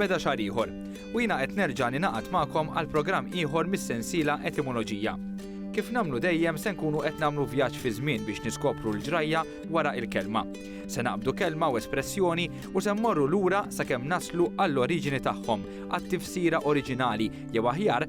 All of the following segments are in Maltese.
beda xar ieħor. U jiena qed nerġa' ninaqat magħkom għal programm ieħor mis-sensiela Etimoloġija. Kif nagħmlu dejjem se nkunu qed nagħmlu vjaġġ fi żmien biex niskopru l-ġrajja wara il-kelma. Se naqbdu kelma u espressjoni u se mmorru lura sakemm naslu għall-oriġini tagħhom, għat-tifsira oriġinali jew aħjar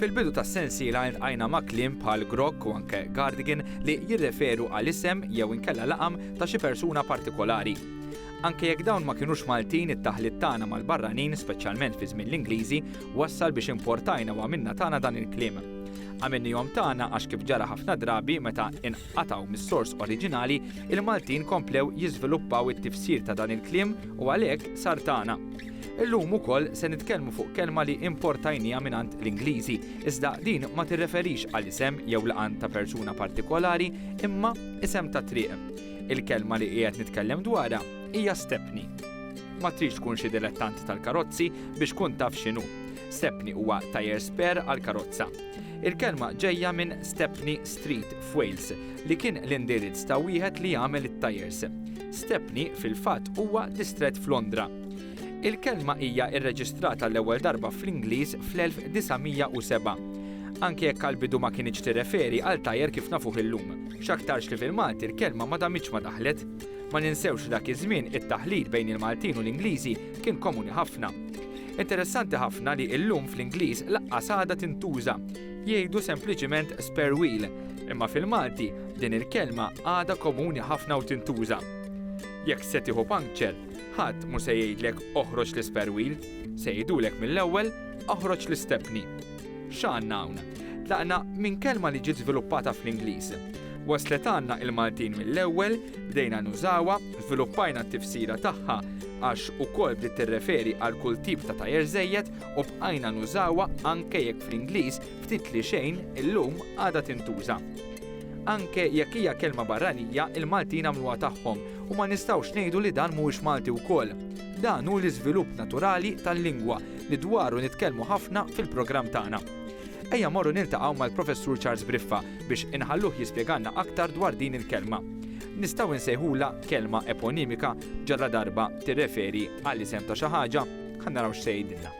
Fil-bidu tas-sensiela iltqajna ma' kliem bħal grokk u anke gardigan li jirreferu għal isem jew inkella laqam ta' xi persuna partikolari. Anke jekk dawn ma kinux Maltin it-taħlit tagħna mal-barranin speċjalment fi żmien l-Ingliżi wassal biex importajna u għamilna tagħna dan il-kliem. Għamilnihom tagħna għax kif ġara ħafna drabi meta inqatgħu mis-sors oriġinali, il-Maltin komplew jiżviluppaw it-tifsir ta' dan il-kliem u għalhekk sar tagħna. Illum ukoll se nitkellmu fuq kelma li importajnija mingħand l-Ingliżi, iżda din ma tirreferix għal isem jew laqan ta' persuna partikolari imma isem ta' triq. Il-kelma li qiegħed nitkellem dwarha hija stepni. Ma tridx tkun xi dilettant tal-karozzi biex tkun taf x'inhu. Stepni huwa tajer spare għal karozza. Il-kelma ġejja minn Stepney Street f'Wales li kien l-indirizz ta' wieħed li jagħmel it-tajers. Stepney fil-fatt huwa distrett f'Londra. Il-kelma hija rreġistrata l-ewwel darba fl-Ingliż fl-1907. Anke jekk għall-bidu ma kinitx tirreferi għal tajer kif nafuh illum, x'aktarx li fil-Malti l-kelma ma damitx ma daħlet. Ma ninsewx li dak iż-żmien it-taħlit bejn il-Maltin u l-Ingliżi kien komuni ħafna. Interessanti ħafna li illum fl-Ingliż laqqas għadha tintuża. Jgħidu sempliċiment spare wheel, imma fil-Malti din il-kelma għadha komuni ħafna u tintuża. Jekk se tieħu puncture, Ħadd mhu se jgħidlek oħroġ l-ispare wheel, se jgħidulek mill-ewwel oħroġ l-istepni. X'għandna hawn? Tlaqna minn kelma li ġiet żviluppata fl-Ingliż. Waslet għandna il-Maltin mill-ewwel, bdejna nużawha, żviluppajna t-tifsira tagħha għax ukoll bdiet tirreferi għal kull tip ta' tajer żejjed u bqajna nużawha anke jekk fl-Ingliż ftit li xejn illum għadha tintuża. Anke jekk hija kelma barranija, il-Maltin għamluha tagħhom U ma nistgħux ngħidu li dan mhuwiex Malti wkoll. Dan hu l-iżvilupp naturali tal-lingwa li dwaru nitkellmu ħafna fil-programm tagħna. Ejja morru niltaqgħu mal-Professur Charles Briffa biex inħalluh jispjegalna aktar dwar din il-kelma. Nistgħu nsejħulha kelma eponimika ġalla darba tirreferi għal isem ta' xi ħaġa? Ħa naraw x'se jgħidilna.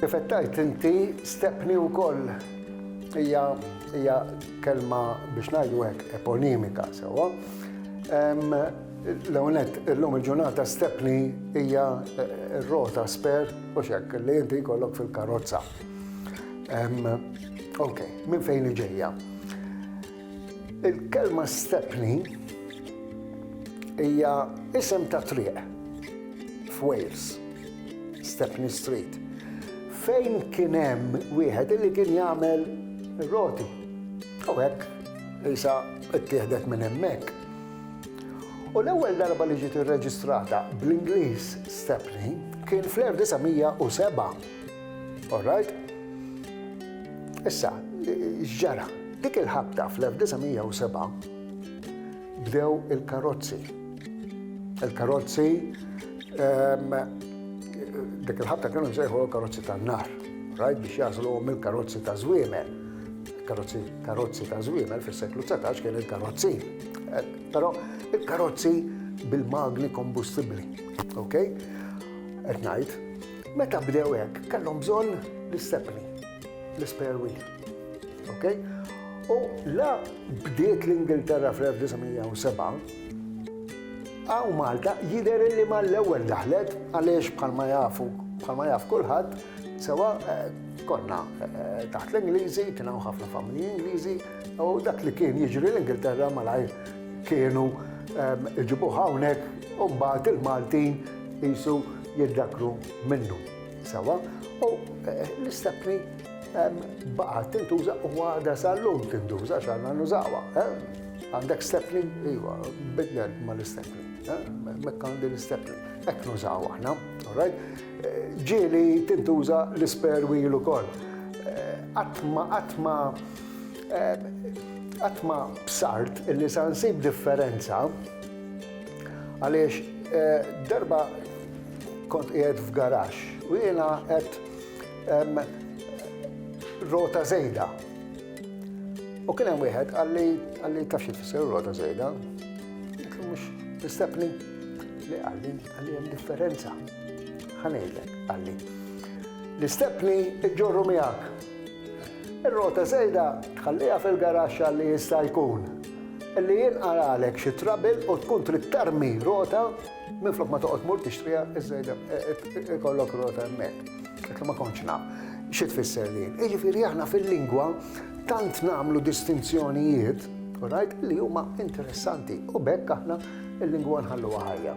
Kif qed tgħid inti, stepni wkoll hija hija kelma biex ngħidu hekk eponimika sewwa. L-ewwel nett, illum il-ġurnata stepni hija r-rota sper u x'hekk li inti jkollok fil-karozza. Okej, minn fejn ġejja? Il-kelma Stepney hija isem ta' triq f'Wales, Stepney Street, fejn kien hemm wieħed li kien jagħmel roti. U hekk isa ttieħdet minn hemmhekk. U l-ewwel darba li ġiet irreġistrata bl-Ingliż Stepney kien fl-1907 All right. Issa, ġara, dik il-ħabta fl-1907 bdew il-karozzi. Il-karozzi ehm, dik il-ħabta kienu jżejħu l-karozzi tan-nar, rajt biex jażlu mill-karozzi ta' żwiemel. Karozzi, karozzi ta' żwiemel fis-seklu 19 kien il-karozzi. Eh, però il-karozzi bil-magni kombustibbli. Ok? Qed ngħid, Meta bdew hekk, kellhom bżonn l-istepni, l-spare wheel. Okay? U la bdiet l-Ingilterra fl-1907, għaw Malta jider li ma l-ewwel daħlet għaliex bħalma jafu, bħalma jaf kulħadd, sewa eh, konna eh, taħt l-Ingliżi, kien hawn ħafna familji Ingliżi, u dak li kien jiġri l-Ingilterra malajr kienu ehm, iġibu hawnhekk u mbagħad il-Maltin Qisu jiddakkru minnu sewwa u l-istepni baqgħet tintuża u għadha sal-lum tintuża għax għandna nużawha. Għandek stepni? Iva, bidlet mal-istepni. Mekk għandi l-istepni. Hekk nużaw aħna, all right? Ġieli tintuża l-ispare wheel ukoll. Għatma, għatma, għatma bsart illi sa nsib differenza Għaliex eh, darba kont qiegħed f'garax u jiena qed rota żejda. U kien hemm wieħed għalli għalli taf xi tfisser rota żejda. Mhux nistepni li għalli għalli hemm differenza. Ħanejlek għalli. L-istepni iġġorru miegħek Ir-rota żejda tħalliha fil-garaxx għal li jista' jkun li jinqaralek xi trouble u tkun trid tarmi rota minflok ma toqgħod tmur tixtriha iż-żejda ikollok rota hemmhekk. Qed ma kontx naf xi tfisser din. Jiġifieri aħna fil-lingwa tant nagħmlu distinzjonijiet, all right, li huma interessanti u b'hekk aħna l-lingwa nħalluha ħajja.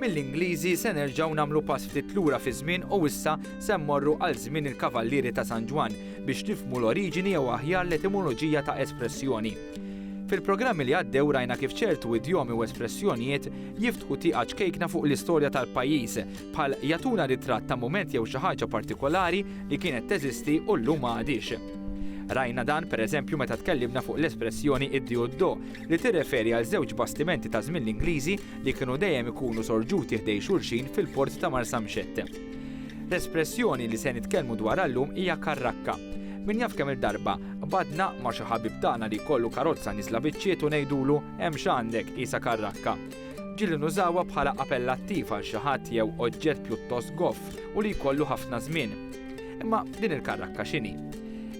Mill-Ingliżi se nerġgħu nagħmlu pass ftit lura fiż-żmien u issa se mmorru għal żmien il-Kavallieri ta' San Ġwann biex nifhmu l-oriġini jew aħjar l-etimoloġija ta' espressjoni. Fil-programmi li għaddew rajna kif ċertu idjomi u espressjonijiet jiftħu tieqa ċkejkna fuq l-istorja tal-pajjiż, bħal jagħtuna ritratt ta' mument jew xi ħaġa partikolari li kienet teżisti u llum ma għadhiex. Rajna dan, per eżempju, meta tkellimna fuq l-espressjoni id-Dioddo, li tirreferi għal żewġ bastimenti ta' żmien l-Ingliżi li kienu dejjem ikunu sorġuti ħdejn xulxin fil-port ta' Marsamxett. L-espressjoni li se nitkellmu dwarha llum hija karrakka. Min jaf kemm il-darba badna ma' xi ħabib tagħna li jkollu karozza nisla biċċiet u ngħidulu hemm x'għandek qisha karrakka. Ġieli nużawha bħala apellattiv għal xi ħadd jew oġġett pjuttost goff u li jkollu ħafna żmien. Imma din il-karrakka x'inhi?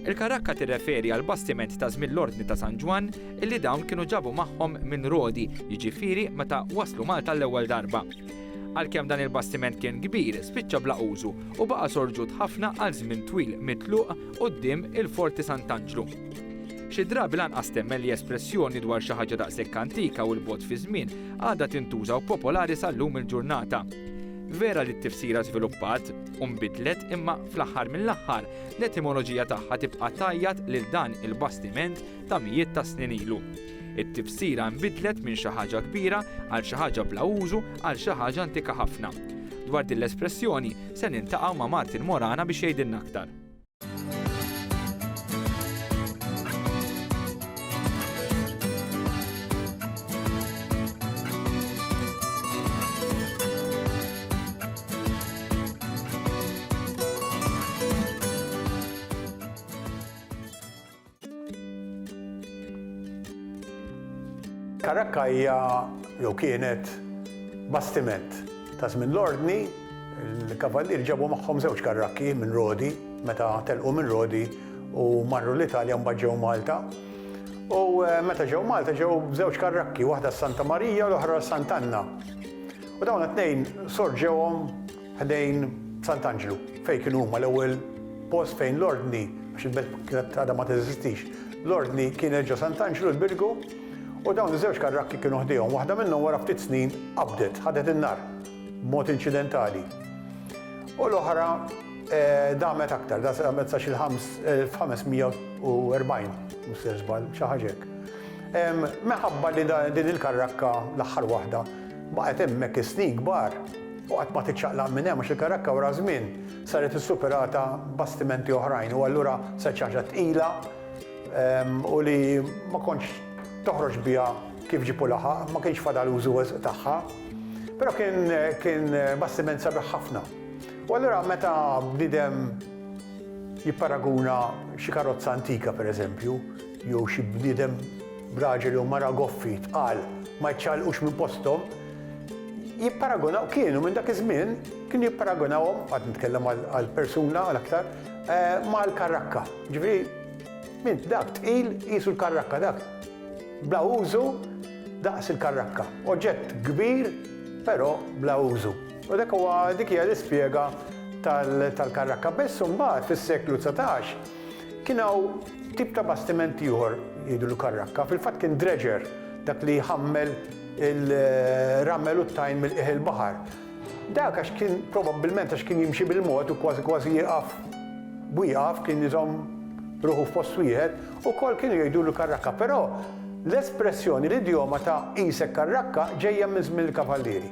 Il-karrakka tirreferi għal bastiment ta' żmien l-Ordni ta' San Ġwann illi dawn kienu ġabu magħhom minn Rodi, jiġifieri meta waslu Malta l-ewwel darba. Għalkemm dan il-bastiment kien kbir, spiċċa bla użu u baqa' sorġut ħafna għal żmien twil mitluq quddiem il-Forti Sant'Anġlu. Xi drabi lanqas temmen li espressjoni dwar xi ħaġa daqshekk antika u 'l bogħod fiż-żmien għadha tintuża u popolari sal-lum il-ġurnata. Vera li t-tifsira żviluppat u nbidlet imma fl-aħħar mill-aħħar l-etimoloġija tagħha tibqa' tgħajjat lil dan il-bastiment ta' mijiet ta' snin ilu. It-tifsira nbidlet minn xi ħaġa kbira għal xi ħaġa bla użu għal xi ħaġa antika ħafna. Dwar din l-espressjoni se niltaqgħu ma' Martin Morana biex jgħidilna aktar. Karakka hija jew kienet bastiment ta' żmien l-Ordni. Il-Kavallieri ġabu magħhom żewġ karrakki minn Rodi meta telqu minn Rodi u marru l-Italja mbagħad ġew Malta. U meta ġew Malta ġew b'żewġ karrakki, waħda s-Santa Marija u l-oħra s-Sant'Anna. U dawn it-tnejn sorġewhom ħdejn Sant'Anġlu, fejn kienu huma l-ewwel post fejn l-Ordni, għax il-belt kienet għadha ma teżistix, l-Ordni kienet ġo Sant'Anġlu l-Birgu u dawn iż-żewġ karrakki kienu ħdejhom. Waħda minnhom wara ftit snin qabdet, ħadet in-nar b'mod inċidentali. U l-oħra damet aktar, damet sa xi 1540, mhux ser żball, xi ħaġa hekk. Minħabba li din il-karrakka, l-aħħar waħda, baqgħet hemmhekk is-snin kbar, U qatt ma tiċċaqlaq minn hemm għax il-Karakka wara żmien saret issuperata bastimenti oħrajn u allura saret xi ħaġa tqila u li ma kontx toħroġ biha kif ġieb u laħaq, ma kienx fadal użu wisq tagħha. Però kien kien bastiment sabiħ ħafna. U allura meta bniedem jipparaguna xi karozza antika pereżempju, jew xi bniedem, raġel jew mara goffi, tqal, ma jċċaqlqux minn posthom, jipparagunaw, kienu minn dak iż-żmien, kienu jipparagunawhom, qed nitkellem għal persuna għal aktar, mal-karrakka. Ġifieri, min dak tqil qisu l-karrakka dak, bla użu daqs il-karrakka. Oġġett kbir, però bla użu. U dak huwa, dik hija l-ispjega tal-karrakka. Biss imbagħad fis-seklu dsatax, Kien hawn tip ta' bastiment ieħor jgħidulu karrakka, fil-fatt kien dredger, dak li jħammel il-ramel u t-tajn mill-qiegħ il-baħar. Dak għax kien probabbilment għax kien jimxi bil-mod u kważi kważi jieqaf b'wieqaf, kien iżomm ruħu f'post wieħed, ukoll kienu jgħidulu karrakka. Però l-espressjoni, l-idjoma ta' qisek karrakka ġejja minn żmien il-kavallieri.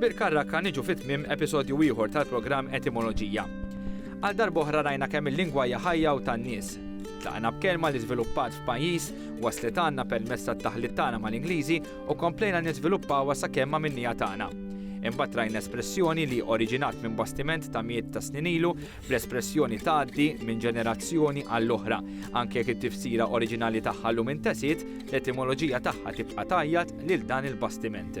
Bir-karrakka niġu fi tmiem episodju ieħor tal-programm Etimoloġija. Għal darb'oħra rajna kemm il-lingwa hija ħajja u tan-nies. Tlaqna b'kelma li żviluppat f'pajjiż, waslet għandna permezz tat-taħlit tagħna mal-Ingliżi u komplejna niżviluppawha sakemm għamilniha tagħna. Imbagħad rajna espressjoni li oriġinat minn bastiment ta' mijiet ta' snin ilu bl-espressjoni tgħaddi minn ġenerazzjoni għall-oħra. Anke jekk it-tifsira oriġinali tagħha llum intesiet, l-etimoloġija tagħha tibqa' tgħajjat lil dan il-bastiment.